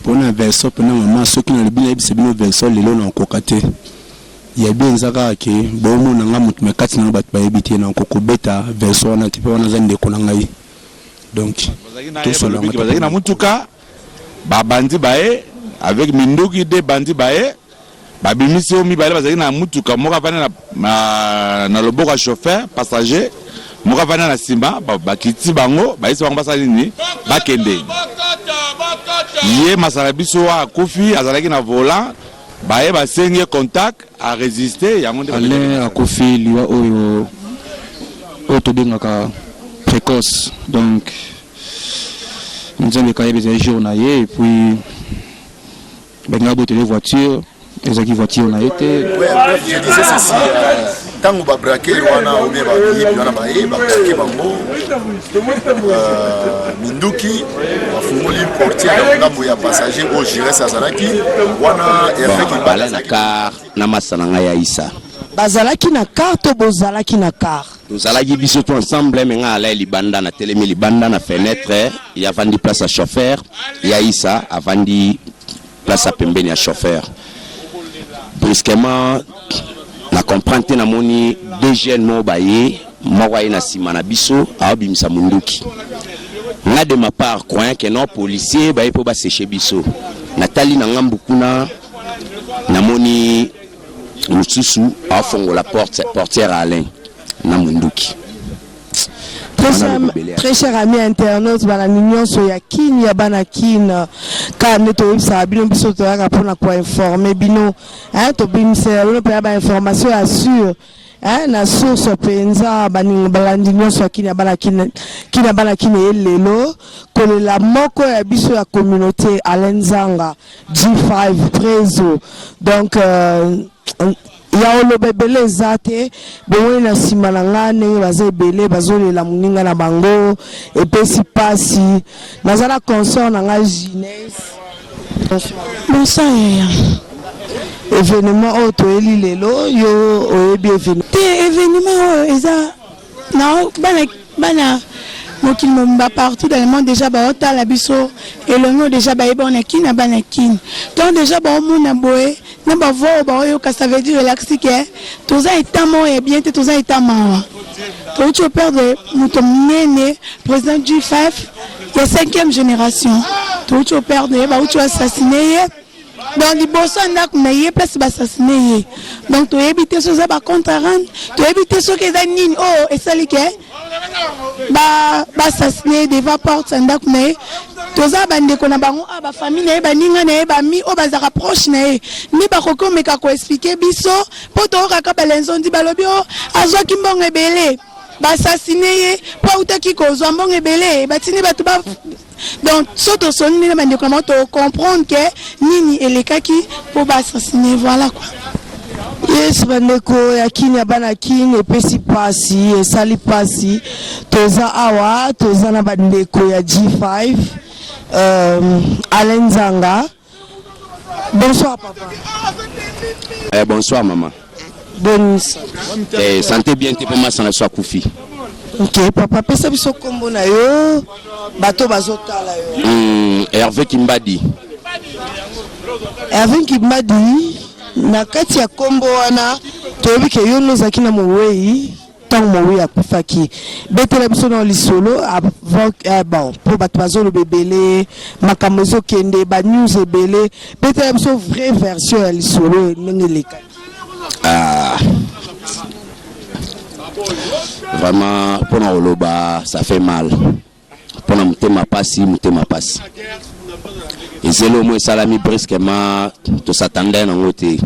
pona version pona mama soki nalobi nayebisa bino version lelo na okoka te ya bien eza kaka ke bomona nga moto na kati na bato bayebi te na okoko beta version wana te mpe wana aza ndeko na ngai donc tosolabazalaki na motuka babandi baye avec minduki de bandi baye Babimisi oyo mibale bazalaki na motuka, moko avandi na, na, na loboko ya chauffeur passager, moko avandi na nsima. Bakiti bango, bayebisi bango basala nini, bakende. Ye masala biso wa akufi azalaki na volant, baye basengi ye contact, a resiste yango nde Alain akufi liwa oyo oyo tobengaka precoce donc nzambe kayeba ezali jour na ye et puis Balingaki botele ye voiture, ezalaki voiture na ye te. Oui, en bref, je disais ceci, euh, ntango babrake wana obe bayebi wana baye babrake bango euh, minduki bafungoli portier ya ngambo ya passager oyo gires azalaki wana erfekibala na kar na masa na ngai ya isa bazalaki na kar to bozalaki na kar tozalaki biso to ensemble me ngai alai libanda na telemi libanda na fenetre ye avandi place ya chauffeur ya isa avandi place ya pembeni ya chauffeur brusquement na comprendre te namoni deux jeunes moko baye moko aye na nsima na biso aobimisa monduki nga de ma part croyant que non policier baye mpo baseche biso natali na ngambu kuna namoni mosusu afongola porte portière Alain na munduki très cher ami internaute balandi nyonso ya kin ya bana kin kaka nde toyebisaka bino biso toyaka mpona koinforme bino tobimisela bino mpena bainformation ya sur eh, na source mpenza baninga balandi nyonso ya kina bana kina kina bana kina ye lelo kolela moko ya biso ya communauté Alain Zanga G5 Trezo donc euh, ya oloba ebele eza te bomoni na nsima na nga ndenge baza ebele bazolela moninga na bango epesi mpasi naza na consort na nga gines bonsoir yaya evenement oyo toyeli lelo yo oyebi evenement te evenement oyo eza Non, bana, bana mokili mobimba partout dans le monde déjà baotala biso elongo déjà bayebi on est kin na bana kin donc déjà baomona boye na bavoix oyo baoyoka ça veut dire elakisi ke toza eta moko ya bien te toza eta mawa touti operdre moto monene président du faf ya cinquième génération touti operdre ye bauti oassassine ye donc liboso ya ndako na ye place basasine ye donc toyebi te soki eza bacompte arande toyebi te soki eza nini oyo oh, esali ke basasine ye devant porte ya ndako na ye toza bandeko na bango a ah, bafamille na ye baninga na ye bami oyo bazalaka proche na ye nde bakoki komeka koexplike biso mpo toyokaka balenzondi balobi o oh, azwaki mbongo ebele basasine ye mpo autaki kozwa mbongo ebele batindi bato donc so tosoli ndenge bandeko na bango tocomprendre ke nini elekaki mpo baassassine voilà quoi yesu bandeko ya kini ya bana kini epesi mpasi esali mpasi toza awa toza na bandeko ya g5 um, alain nzanga Bonsoir papa. Eh, bonsoir maman. Bonne santé. Eh, santé bien te poma sana so akufi. Ok papa pesa biso kombo na yo bato bazotala yo. Mm, Hervé Kimbadi. Hervé Kimbadi na kati ya kombo wana toyebi ke yo nozaki na mowei Tango moweyi akufaki betela biso nao lisolo avant eh, bon po bato bazoloba ebele makambo ezokende ba news ebele betela biso vraie version ya lisolo ndenge elekaki Ah. Vraiment, pour nous, ça fait mal. mpo na motema pasi motema pasi ezeli omo esalami brusquement tosatanda nango te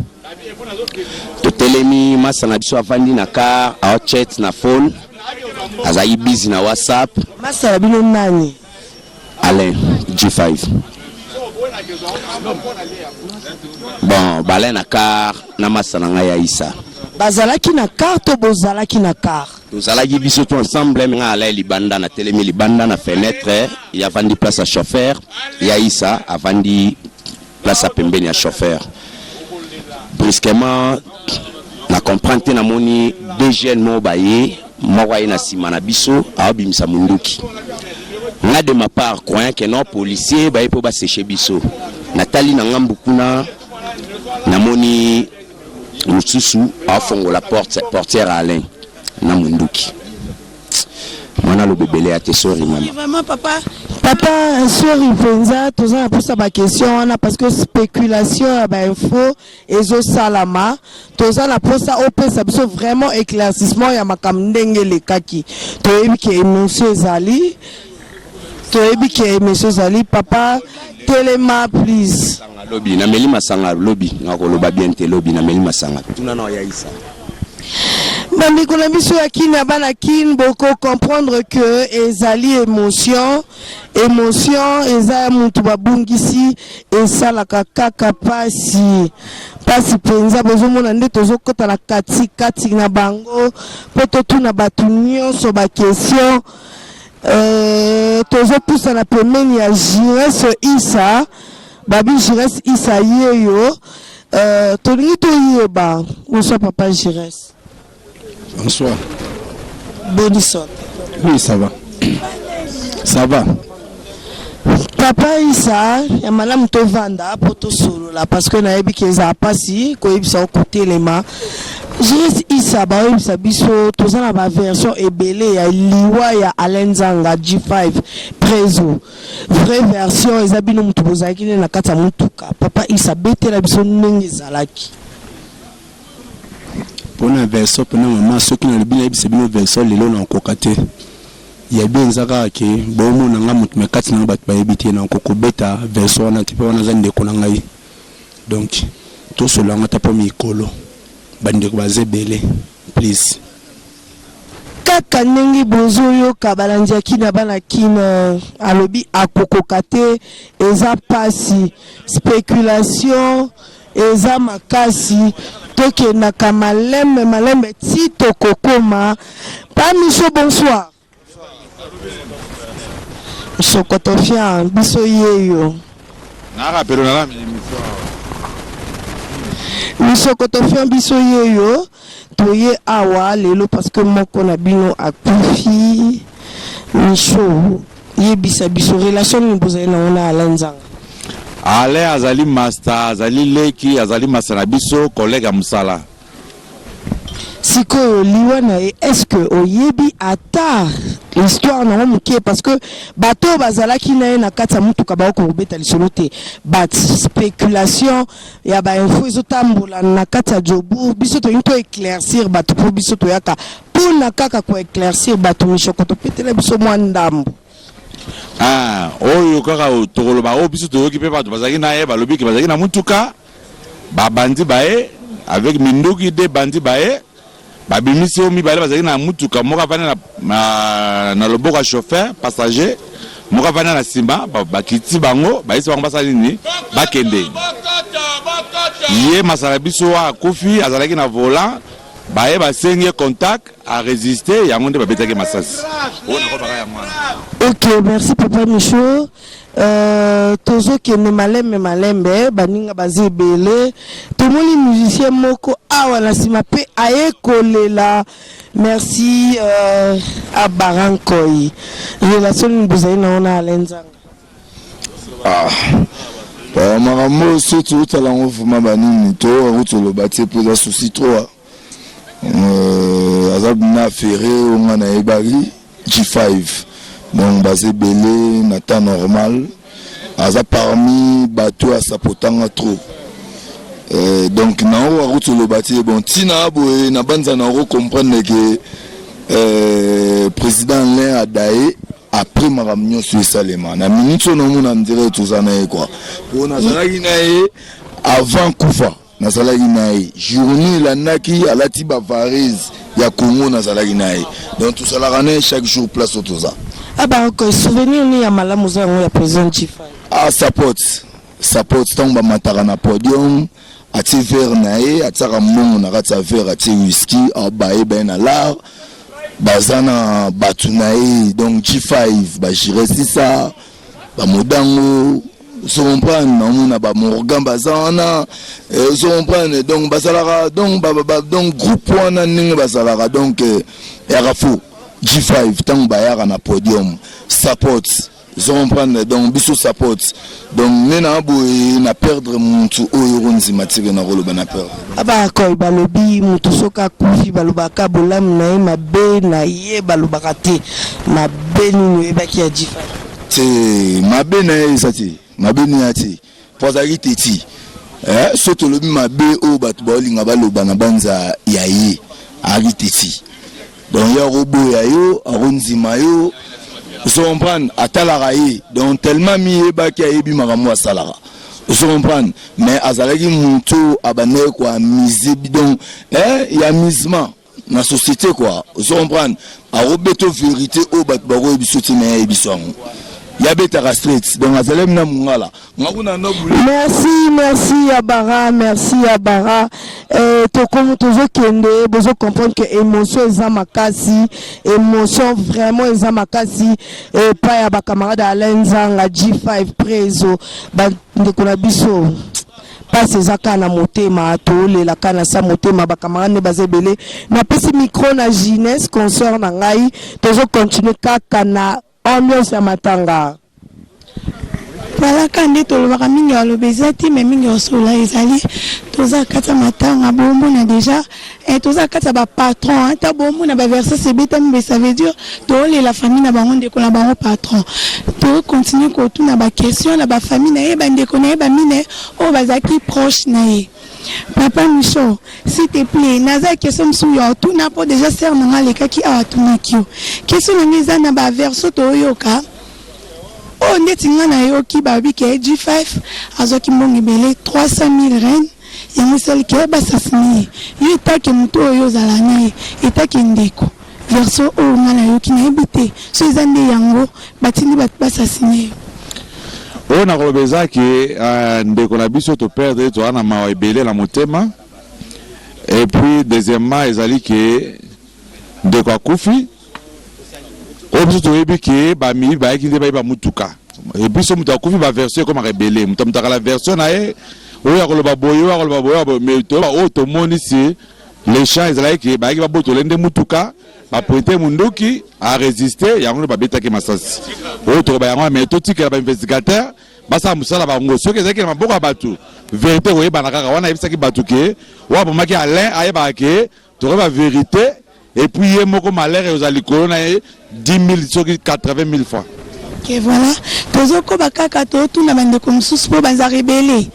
totelemi masa na biso afandi na car aochet na phone azali bizi na whatsapp masa na bino nani alain g5 bon balai na car na masa na ngai ya isa bazalaki na car to bozalaki na car tozalaki biso to ensemble me ngai alai libanda na telemi libanda na fenetre ye avandi place ya chauffeur ya isa avandi place ya pembeni ya chauffeur brusquement na comprendre te namoni deux jeunes moko baye moko aye na nsima na biso aobimisa monduki nga de ma part croyant que non policier baye mpo baseche biso natali na ngambu kuna namoni mosusu afongola porte portière Alain na munduki mwana aloba ebele ya te sori mama vraiment papa papa sori mpenza toza na posa baquestion wana parce que spéculation ya bainfo ezosalama toza na posa opesa biso vraiment éclaircissement ya makambo ndenge elekaki toyebi ke émotion ezali toyebi ke emission ezali papa telema please lobi na meli masanga lobi na koloba bien te lobi na meli masanga tuna na ya isa bandeko na biso ya kin ya bana kin boko comprendre que ezali émotion émotion eza ya motu babungisi esalaka kaka pasi pasi mpenza bozomona nde tozokota na katikati na bango mpo totuna bato nyonso bakestion Euh, tozopusana pembeni ya jires isa babi jires isa yeyo euh, tolingi toyeba bonsoir papa jires bonsoir bonne sorte oui ça va ça va Papa Isa ya malamu tovanda po tosolola parce que nayebi ke ezala pasi koyebisa yo kotelema Juriste Issa baoyebisa biso toza na ba version ebele ya liwa ya Alain Nzanga G5 Prezo vraie version eza bino mutu bozalaki nde na kati ya mutuka papa Issa betela biso ndenge ezalaki mpona version mpona mama soki nalobi nayebisa bino version lelo na okoka te Ya bien eza kaka ke bo mona nga mutu mais kati na nga batu ba yebi te nako ko beta version wana te po wana aza ndeko na ngai donc to solola yango ata po mikolo ba ndeko baza ebele please. Kaka ndenge bozo yoka balandi ya kin aba na kin alobi akokoka te eza pasi speculation. Eza makasi tokendaka malembe malembe ti tokokoma pa miso bonsoir msokotofian biso yeyo. Na rapelo na lami emission awa. Misokotofian biso yeyo. Toye awa lelo parce que moko na bino akufi. Michaux yebisa biso relation nini bozali nango na Alain Nzanga? Alain azali masta, azali leki, azali masta na biso, collègue ya musala. Sikoyo liwa na ye est ce que oyebi ata histoire nango mukie? Parce que bato oyo bazalaki na ye na kati ya mutuka bakoki kobeta lisolo te but speculation ya ba info ezo tambola na kati ya Jobourg biso tolingi to eclaircir bato mpo biso toyaka mpona kaka ko eclaircir bato mishoko topetela biso mwa ndambo Ah, oyo kaka o- tokoloba oyo biso toyoki mpe bato bazalaki na ye balobi ke bazalaki na motuka babandi baye avec minduki de bandi baye Babimisi oyo mibale bazalaki na motuka, moko avandi na, na, na loboko ya chauffeur passager, moko avandi na nsima. Bakiti bango, bayesi bango basala nini, bakende. Ye masala biso wa akufi, azalaki na volant, baye basengi ye contact, a resiste, yango nde babetaki masasi. Ok, merci papa Michaud. Euh, tozokende malembe malembe baninga baza ebele tomoni musicien moko awa na nsima mpe aye kolela merci euh, abarankoi relation nini bozali na ona alenzanga ah. Euh, makambo oyo so toyotala yango vraimen banini toyoka kutu oloba te mpo eza souci troa aza na ferre oyo nga nayebaki G-Five donc baza ebele na temps normal aza parmi batu a sapota nga trop eh, donc na oyo akuti oloba te bon ntina aboye na banza na oko comprendre ke eh, président Alain Adaye après makambo nyonso esalema na minute oyo naomona ndire toza na ye kua mpo nazalaki na ye avant kufa nazalaki na ye journée elandaki alati ba varese ya congo nazalaki na ye donc tozalaka na ye chaque jour place oyo toza Ah bah ok, souvenir ni ya malamu oza yango ya president Chifa. ah sapote sapote ntango bamataka na podium atie verre na ye atiaka mbongo na kati ya verre atie whisky abaye baye na lar baza na bato na ye donc g5 bagire sisa ba modango ozo comprendre naomona ba morgan baza wana eh, ozo comprendre donc bazalaka donc ba, ba, donc groupe wana ndenge bazalaka donc eh, yaka fo g5 ntango bayaka na podium support ozo comprendre donc biso support donc nde na boye na perdre mutu oyo okonzima tike nakoloba na perdre Abarakoi balobi moto soki akufi balobaka bolamu na ye mabe na ye balobaka te mabe nini oyebaki ya G-Fally? Te mabe na ye eza te mabe na ya te po azalaki teti eh, so tolobi mabe oyo bato baolinga baloba na banza ya ye azalaki teti Donc ye ako boya yo, ako ndima yo. Ozo comprendre? Atalaka ye. Donc tellement amiyebaki ayebi makambo asalaka. Ozo comprendre? Mais azalaki mutu oyo abandaki ko amuser bi donc eh ya amusement na societe quoi. Ozo comprendre? Ako beta yo verite oyo batu bako yebisa yo te mais ye ayebi biso yango. Ye abetaka straight. Donc azalaki na mungala. Merci, merci ya Bara, merci ya Bara. Eh, tokomi tozokende bozo comprendre que émotion eza makasi, émotion vraiment eza makasi epai eh, ya bacamarade Alain Nzanga, G5, Prezo, bandeko na biso mpasi eza kaka na motema tolela kaka na sa motema bacamarade nde baza ebele napesi micro na jeunesse concert na ngai tozocontinue kaka na Ambiance ya matanga. Voilà ka nde tolobaka mingi ya loba eza te mais mingi ya osola ezali toza kati ya matanga bomona deja eh, toza kati ya ba patron hein. ta bomona ba verses ebetami mais ça veut dire toolela famille na bango ndeko na bango patron to continue kotuna ba question na ba famille na ye ba ndeko na ye ba mine oyo bazalaki proche na ye Papa Michaux, s'il te plait, naza question mosusu ya otuna po deja sœur na nga alekaki awa atunaki yo. Question na nga eza na ba version toyoka oyo ndeti nga nayoki balobi ke G5 azwaki mbongo ebele 300.000 reine yango esali ke basasine ye. Yo etake moto oyo ozala na ye, etake ndeko. Version oyo nga nayoki nayebi te so eza nde yango batindi bato basasine yo. Oyo nakoloba eza ke uh, ndeko na biso to perdre toza na mawa ebele na motema et puis deuxièmement ezali ke ndeko akufi oyo biso toyebi ke bamiyibi bayaki nde bayiba motuka biso moto akufi baversion ekomaka ebele moto amotaka la version na ye oyo akoloba boye oyo akoloba boye mais toyeba oyo tomoni se Le chant ezalaki ke bayaki babotola ye nde mutuka, ba pointe ye munduki, a resister, yango nde babetaki ye masasi. Oyo tokoloba yango wana mais totikela ba investigateurs basala musala ba bango. Soki ezalaki na maboko ya batu, verite ekoyebana kaka. Wana ayebisaki batu ke oyo abomaki Alain ayebaka ke tokoyeba verite et puis ye moko malheur ekozala likolo na ye. 10000 soki 80000 fois ke voilà tozokoba kaka totuna bandeko mosusu mpo bazaka ebele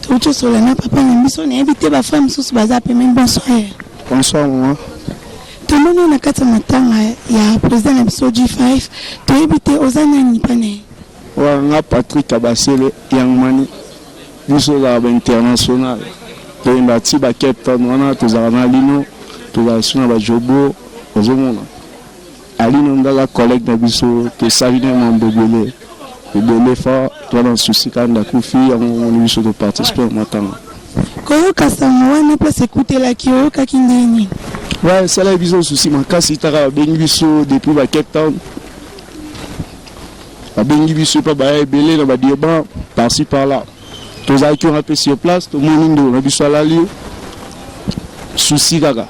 touti osola na papa na biso nayebi te bafrère mosusu baza mpe meme bonsoir bonsoir mama tomoni na kati ya matanga ya président na biso g5 toyebi te oza nani mpa na ye oyo nga patrik abasele yangmani biso ozalaka bainternational toyemba ti ba cape town wana tozalaka na lino tozalaka so na bajobo ozomona Alino ngaga collegue na biso tosali na mambo ebele ebele fa toa na souci kanda kufi yango omoni biso to participe na matanga koyoka sango wana place ekutelaki oyokaki ndenge nini ouais esalaki biso souci makasi taka babengi biso depuis ba cape town babengi biso epa baya ebele na badeba parci par là tozalaki wana mpe sur place tomoni ndeko na biso alali susi kaka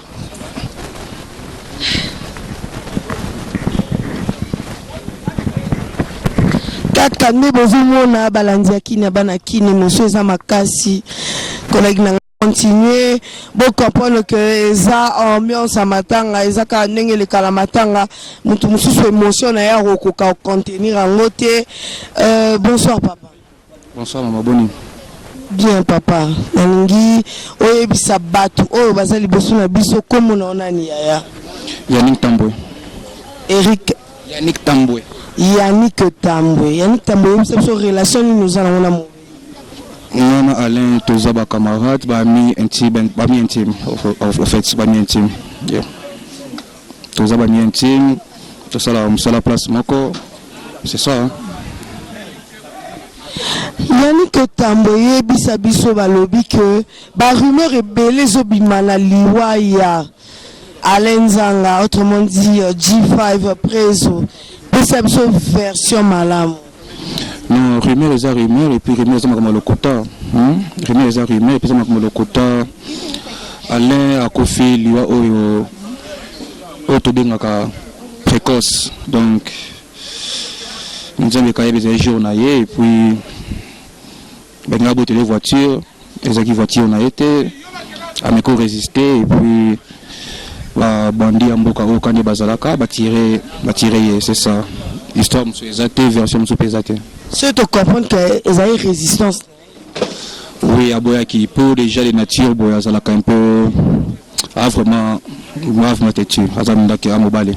kaka nde bozomona balandi ya kini ya bana kini mosu eza makasi kolaki na continuer bo comprendre que eza ambiance ya matanga eza kaka ndenge elekala matanga moto mosusu émotion na ye akokoka contenir yango te euh, bonsoir papa bonsoir mama boni bien papa nalingi oyebisa bato oyo baza liboso na biso kombo na yo nani yaya yannick tambwe eric yannick tambwe yannick tambwe yannick tambwe oyebisa biso relation nini oza nango na Nga na Alain toza ba camarades, ba amis intimes, ba amis intimes en fait, ba amis intimes. Yeah. Toza ba amis intimes, tosala mosala place moko. C'est ça. Hein? Yannick Otambo yebisa biso balobi que ba rumeur ebele ezobima na liwa ya Alain Nzanga autrement dit G-5 Prezo pesa biso version malamu. Non, rumeur eza rumeur et puis rumeur eza makambo ya lokuta. Hmm? Rumeur eza rumeur et puis eza makambo ya lokuta. Alain akufi liwa oyo oyo tobengaka précoce. Donc nzambe kayeba ezali jour na ye et puis Ben nga botele voiture ezaki voiture na ye te ameko résister et puis ba bandi ya mboka oyo kande bazalaka batire batire ye c'est ça histoire mosusu eza te version mosusu mpe eza te soki tocomprendre ke ezali résistance oui aboyaki mpo déjà de nature boye azalaka un peu a vraiment a vraiment têtu aza ndaki a mobali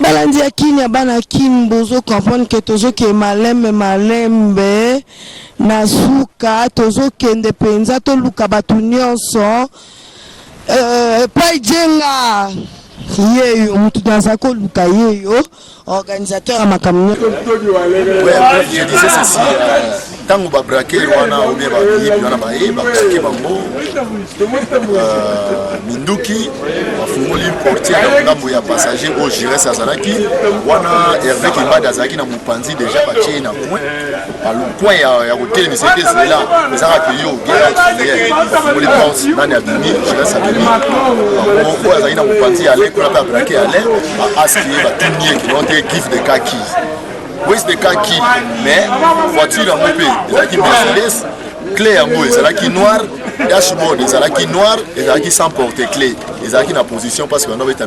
Balandi ya kin ya bana kin bozo comprendre que tozoke malembe malembe na suka tozokende penza toluka bato nyonso euh, epai jenga yeyo mutu naza koluka yeyo organisateur ya makambo nyonso ntango babrakere wana ou bien bayebi wana baye bakoki bango euh, minduki bafungoli portier ya ngambo ya passager oyo gires azalaki wana herve kibadi azalaki na mopanzi deja batie ye na coin coin ya kotelemisa ete zela ezaka peyo gfungoli porte nani abimi gires abimi bango oyo azalaki na mopanzi ya alain kuna mpe abrake alain baaski ye batuni ye kino te give de kaki West de Kaki, mais voiture yango mpe ezalaki Mercedes, clé yango ezalaki noir, dashboard ezalaki noir, ezalaki sans porte clé, ezalaki na position parce que banda beta